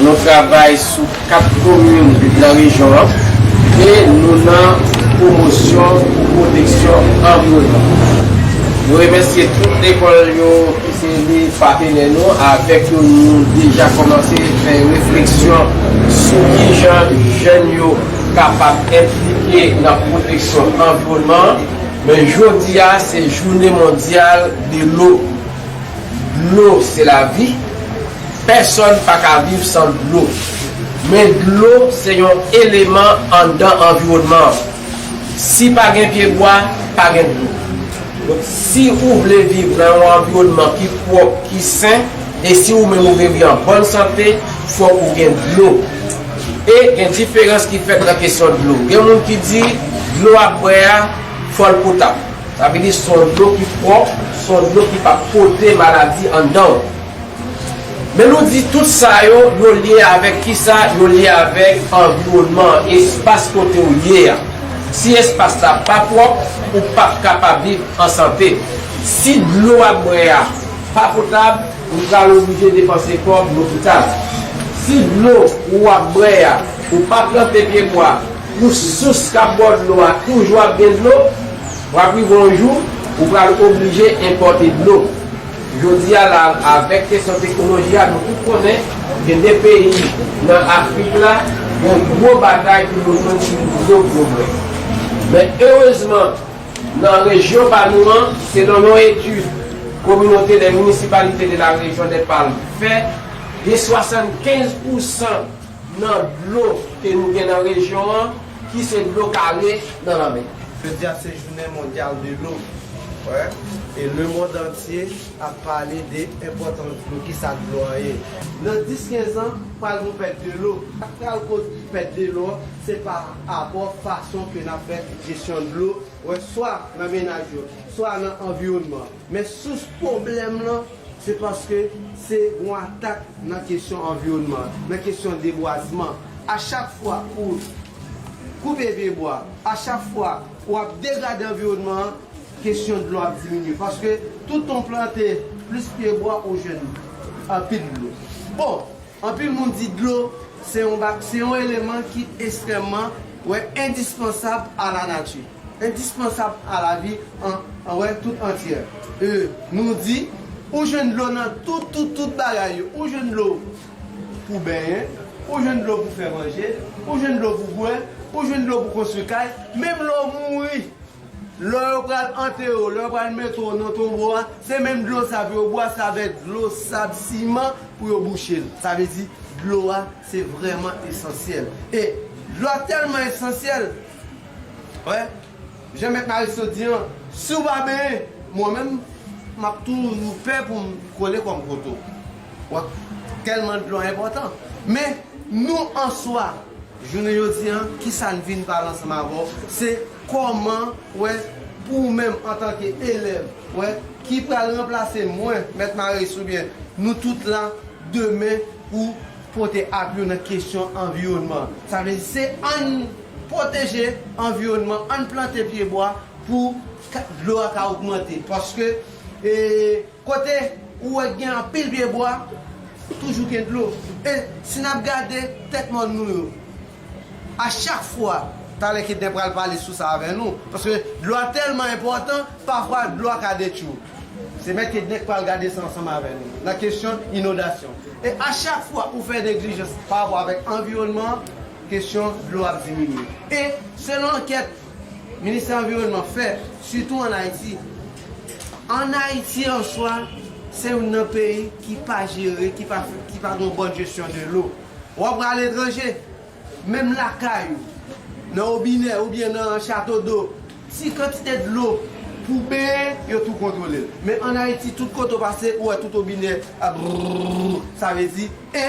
Nou travay sou 4 komin nan rejyon an e nou nan pwomosyon pou pwoteksyon anviwònman. Nou remèsye tout lekòl yo ki se de patenè nou, avèk yo nou deja kòmanse fè refleksyon sou kijan jèn yo kapab enplike nan pwoteksyon anviwònman an. Men jodi a se jounen mondyal de lo. Dlo se lavi. Pèsòn pa ka viv san dlo. Men dlo se yon eleman anndan anviwònman an. Si pa gen pyebwa, pa gen dlo. Donk, si ou vle viv nan yon anviwònman ki pwòp, ki sen, e si ou menm ou vle viv an bòn sante, fòk ou gen dlo. E gen diferans ki fèt nan kesyon dlo. Gen moun ki di, dlo w ap bwè a, fò l potap. Sa vle di, son dlo ki pwòp, son dlo ki p ap pote maladi anndan w. Men nou di tout sa yo, yo lye avèk kisa? Yo lye avèk anviwònman an, espas kote ou ye a. Si espas la pa pwòp, ou p ap kapab viv an sante. Si dlo w ap bwè a pa potab, ou pral oblije depanse kòb lopital. Si dlo ou ap bwè a, ou pa plante pyebwa pou sous k ap ba w dlo a toujou ap gen dlo, w ap rive yon jou, ou pral oblije enpòte dlo. Jodi a la, avèk kesyon teknoloji a, nou tout konnen gen 2 peyi nan Afrik la gen gwo batay pou yo jwenn sou gwo pwogrè. Men erezman, nan rejyon pa nou an, selon yon etid Communauté des municipalités de la région des Palmes fè, gen 75 pousan nan dlo ke nou gen nan rejyon an, ki se dlo kale nan lanmè. Jodi a se jounen mondyal dlo wi e lemond antye ap pale de enpòtans dlo, kisa dlo an ye. Nan 10, 15 an pral gon pèt dlo, sak pral koz pèt dlo an se pa rapò fason ke nap fè jesyon dlo wè swa nan menaj yo, swa nan anviwònman. Men sous pwoblèm lan, se paske se yon atak nan kesyon anviwònman an, nan kesyon debwazman. A chak fwa ou koupe vye bwa, a chak fwa ou ap degrade anviwònman an, kesyon dlo ap diminye. Paske toutan w plante plis pye bwa ou jwenn anpil dlo. Bon! Anpil moun di dlo se yon ba se yon eleman ki estrèmman wè endispansab a la nati, endispansab a lavi an an wè tout antyè. E nou di, ou jwenn dlo nan tout tout tout bagay yo, ou jwenn dlo pou benyen, ou jwenn dlo pou fè manje, ou jwenn dlo pou bwè, ou jwenn dlo pou konstwi kay, menm lè w mouri. Lè yo pral antere w, lè yo pral mete w nan tonbo a, se menm dlo sa pou yo bwè, se avèk dlo, sab, siman pou yo bouche l. Sa vle di, dlo a se vrèman esansyèl. E dlo a tèlman esansyèl, wè, jan Mèt Marisseau di an, si w pa benyen, mwen menm, m ap toujou pè pou m kole kò m kot ou. Wè, tèlman dlo a enpòtan. Men, nou an swa, jounen jodi a, ki sa n vin pale ansanm avè w, se Kòman wè pou ou menm antanke elèv wè ki pral ranplase mwen, Mèt Marais oubyen nou tout la demen pou pote api yo nan kesyon anviwònman? Sa vle di se ann pwoteje anviwònman, ann plante pye bwa pou dlo a ka ogmante paske kote ou wè gen anpil pye bwa toujou gen dlo e si n ap gade tèt mòn nou yo, A chak fwa, talè Kednen pral pale sou sa avè nou, paske dlo a tèlman enpòtan, pafwa dlo a ka detwi w. Se Mèt Kednen k pral gade sa ansanm avè nou, nan kesyon inodasyon. E a chak fwa ou fè neglijans pa rapò avèk anviwònman an, kesyon dlo ap diminye. E, selon ankèt Ministè Anviwònman fè, sitou an Ayiti, an Ayiti an swa, se youn nan peyi ki pa jere, ki pa gen yon bòn jesyon de lo. W ap pran aletranje? Menm lakay ou, nan wobinè oubyen nan chato do, si kantite dlo pou w benyen, yo tou kontwole l. Men ann Ayiti, tout kote w pase, ou wè tout wobinè ap brrrr. Sa vle di, e,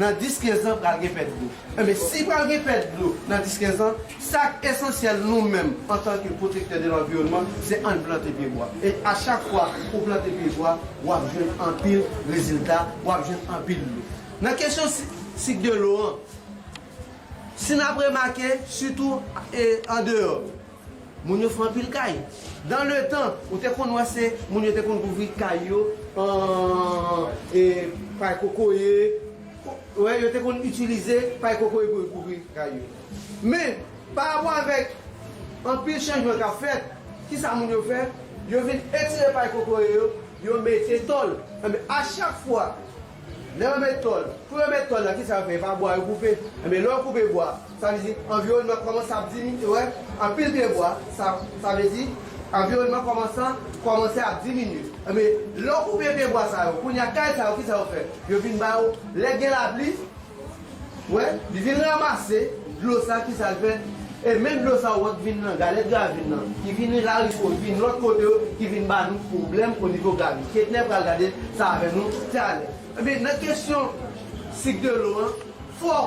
nan dis kenzan pral gen pèt dlo. Enben, si pral gen pèt dlo nan dis kenzan, sa k esansyèl nou menm antanke pwotektè de lanviwònman, se ann plante pyebwa. E achak fwa ou plante pyebwa, w ap jwenn anpil rezilta, w ap jwenn anpil dlo. Nan kesyon sik de lo an, si n ap remake, sitou andeyò, moun yo fè anpil kay. Dan le tan, ou te konn wè se moun yo te konn kouvri kay yo an pay kokoye, wè, yo te konn itilize pay kokoye pou yo kouvri kay yo. Men, parapò avèk anpil chanjman k ap fèt, ki sa moun yo fè? Yo vin etire pay kokoye yo, yo mete tòl. Enben, a chak fwa Lè yo met tòl, kou yo met tòl la kisa yo fè? E pa bwa yo koupe? Enben lè yo koupe bwa, sa vle di anviwònman kòmanse ap diminye, wè, anpil pye bwa, sa, sa vle di anviwònman kòmanse, kòmanse ap diminye. Enben, lè yo koupe pye bwa sa yo, kounye a kay sa yo kisa yo fè? Yo vin ba yo, lè gen lapli, Wè, li vin ramase dlo sa ki sa l fè? E men dlo sa ou wè k vin nan galèt Gavin nan, ki vin nan Larichò, ki vin lòt kote yo, ki vin ba nou pwoblèm o nivo Gavin. Ketnè pral gade sa avè nou talè. Ebyen, nan kesyon sik de lo an, fò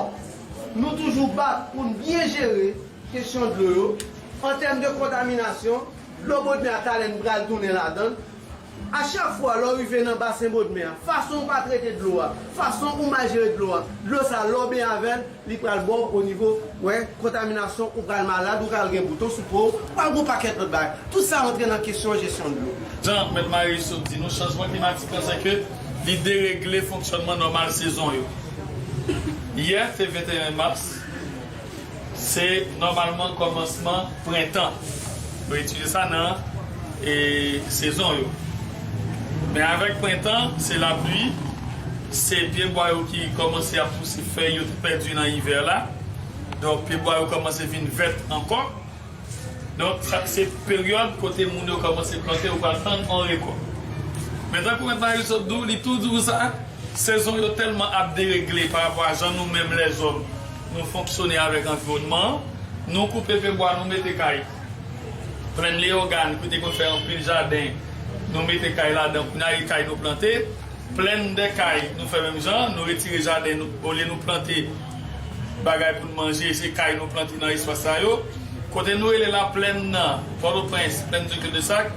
nou toujou bat pou n byen jere kesyon dlo yo. An tèm de kontaminasyon, dlo Bodmè a talè n pral tounen ladan l. A chak fwa lè w rive nan basen Bodmè a, fason ou pa trete dlo a, fason ou mal jere dlo a, dlo sa lè w benyen avè l, li pral ba w onivo, wè, kontaminasyon, ou pral malad, ou ka al gen bouton sou po w, ou pral gen yon pakèt lòt bagay. Tout sa antre nan kesyon jesyon dlo. Jan Mèt Marius sot di nou, chanjman klimatik lan sèke li deregle fonksyònman nòmal sezon yo. Yè te 21 mas. Se nòmalman kòmansman prentan. Yo itilize sa nan sezon yo. Men avèk prentan, se lapli, se pyebwa yo ki kòmanse ap pouse fèy yo te pèdi nan ivè la. Donk pyebwa yo kòmanse vin vèt ankò. Donk sa se peryòd kote moun yo kòmanse plante ou pral tann yon rekòt. Men tankou mèt Marius sot di w, li tou di w sa, sezon yo tèlman ap deregle parapò a jan nou menm lèzòm nou fonksyone avèk anviwònman an, nou koupe pye bwa nou mete kay. Plèn Leyogàn ki te konn fè anpil jaden nou mete kay ladan kounye a e kay nou plante, plèn Dèkay nou fè menm jan, nou retire jaden olye nou plante. Bagay pou n manje, se kay nou plante nan espas sa yo. Kote nou rele la plèn nan Pòtoprens, plèn di Kildesak,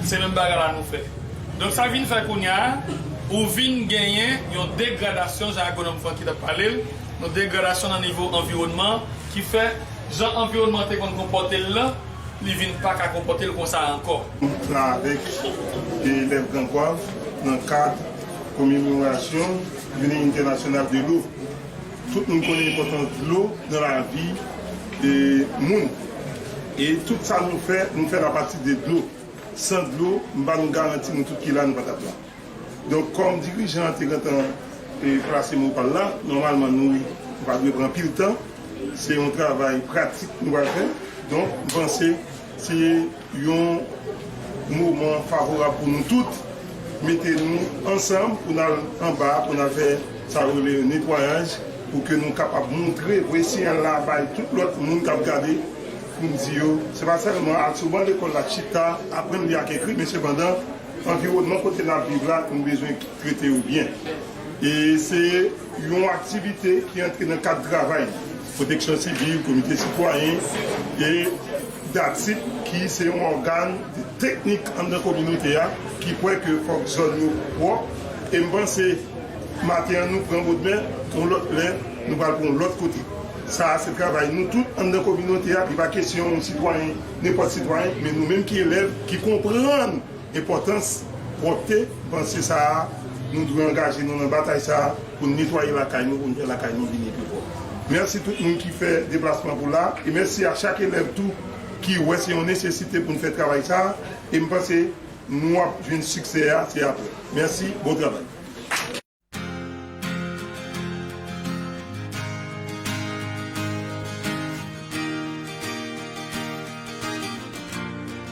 se menm bagay la nou fè. Donk sa vin fè kounya ou vin genyen yon degradasyon, jan agwonòm Francky t ap pale l, yon degradasyon nan nivo anviwònman ki fè jan anviwònman an te konn konpòte l lan, li vin pa ka konpòte l konsa ankò. nan avèk de elèv Gran Gwav nan kad komemorasyon. Jounen entènasyonal de lo. Tout moun konnen enpòtans dlo nan lavi moun e tout sa nou fè, nou fèl apati de dlo. San dlo, m ba nou garanti nou tout ki la nou pa t ap la. Donk kòm dirijan an te gentan plase mo pa l la, nòmalman nou pa dwe pran anpil tan. Se yon travay pratik nou pral fè. Donk m panse se. Yon moman favorab pou nou tout mete nou ansanm pou n al anba pou n al fè sa yo rele netwayaj pou ke nou kapab montre vre siyal la bay tout lòt moun k ap gade pou n di yo se pa sèlman al sou ban lekòl la chita aprann li ak ekri men sepandan anviwònman kote n ap viv la nou bezwen trete yo byen e se yon aktivite ki antre nan kad travay. Pwoteksyon Sivil, Komite Sitwayen e DATSIP ki se yon ògàn teknik anndan kominote a ki kwè ke fòk zòn yo pwòp e m panse maten an nou pran bodmè yon lòt lè nou pral pran yon lòt kote. Sa a se travay nou tout anndan kominote a, li pa kesyon yon sitwayen, nenpòt sitwayen men nou menm ki elèv ki konprann enpòtans pwòpte, m panse sa a nou dwe angaje nou nan batay sa a. Pou n netwaye lakay nou pou n fè lakay nou vini pi pwòp. Mèsi tout moun ki fè deplasman pou la e mèsi a chak elèv tou ki wè se yon nesesite pou n fè travay sa a e m panse nou ap jwenn siksè a se aprè. Mèsi, bon travay.